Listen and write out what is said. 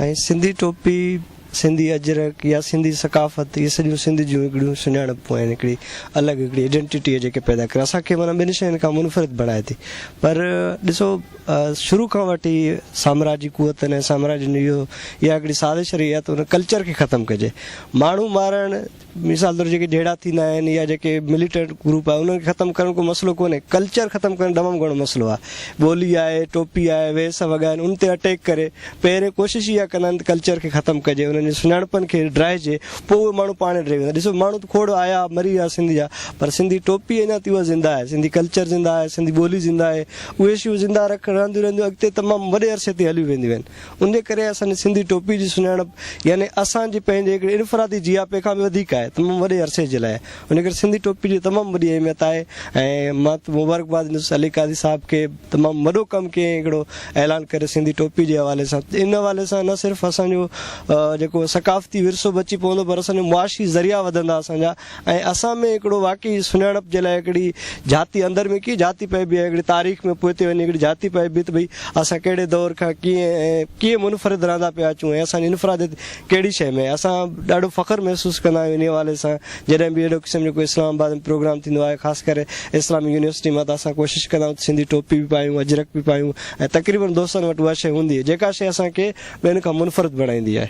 ۽ سنڌي ٽوپي، سنڌي اجرڪ يا سنڌي ثقافت اهي سڄيون سنڌ جون هڪڙيون سڃاڻپون آهن، هڪڙي الڳ هڪڙي ايڊنٽيٽي جيڪي پيدا ڪري اسان کي معنيٰ ٻين شين کان منفرد بڻائي ٿي پر ڏسو شروع کان وٺي ئي سامراجي قوتن ۽ سامراجين اهو اها هڪڙي سازش رهي آهي ته ان ڪلچر کي ختم ڪجي ماڻهو مارڻ مثال طور جيڪي جهيڙا ٿيندا آهن يا جيڪي مليٽنٽ گروپ آهي انهن کي ختم ڪرڻ ڪو مسئلو ڪونهي ڪلچر ختم ڪرڻ تمام گهڻو مسئلو آهي ٻولي آهي ٽوپي آهي ويس وڳا آهن ان تي اٽيڪ ڪري پهرين ڪوشش اها ڪندا آهن ته ڪلچر کي ختم ڪجي انهن جي سڃاڻپن کي ڊاهجي پوء اهي ماڻهو پاڻ ڊهي ويندا ڏسو ماڻهو ته کوڙ آيا مري ويا سنڌ جا پر سنڌي ٽوپي اڃا تائين اها زنده آهي سنڌي ڪلچر زنده آهي سنڌي ٻولي زنده آهي اهي شيون زنده رک رهنديون رهنديون اڳتي تمام وڏي عرصي تائين هليون وينديون آهن ان جي ڪري اسان جي سنڌي ٽوپي جي سڃاڻپ يعني اسان جي پنهنجي هڪڙي انفرادي جياپي کان به وڌيڪ آهي تمام وڏي عرصي جي لاء ان ڪري سنڌي ٽوپي جي تمام وڏي اهميت آهي ۽ مان مبارڪباد ڏيندس علي قاضي صاحب کي تمام وڏو ڪم ڪيئي هڪڙو اعلان ڪري سنڌي ٽوپي جي حوالي سان ان حوالي سان نه صرف اسان جو جيڪو ثقافتي ورثو بچي پوندو پر اسان جو معاشي ذريعا وڌندا اسان جا ۽ اسان ۾ هڪڙو واقعي سڃاڻپ جي لاء هڪڙي جهاتي اندر ۾ ڪيئن جهاتي پئبي ۽ هڪڙي تاريخ ۾ پوئتي وڃي هڪڙي جهاتي پئبي ته ڀئي اسان ڪهڙي دور کان ڪيئن ۽ ڪيئن منفرد رهندا پيا اچون ۽ اسان جي انفراديت ڪهڙي شيء ۾ اسان ڏاڍو فخر محسوس ڪندا آهيون انهي حوالي سان جڏهن به اهڙو قسم جو ڪو اسلام آباد ۾ پروگرام ٿيندو آهي خاص ڪري اسلامي يونيورسٽي مان ته اسان ڪوشش ڪندا آهيون ته سنڌي ٽوپي به پايون اجرڪ به پايون ۽ تقريبن دوستن وٽ اها شيء هوندي آهي جيڪا شيء اسان کي ٻين کان منفرد بڻائيندي آهي.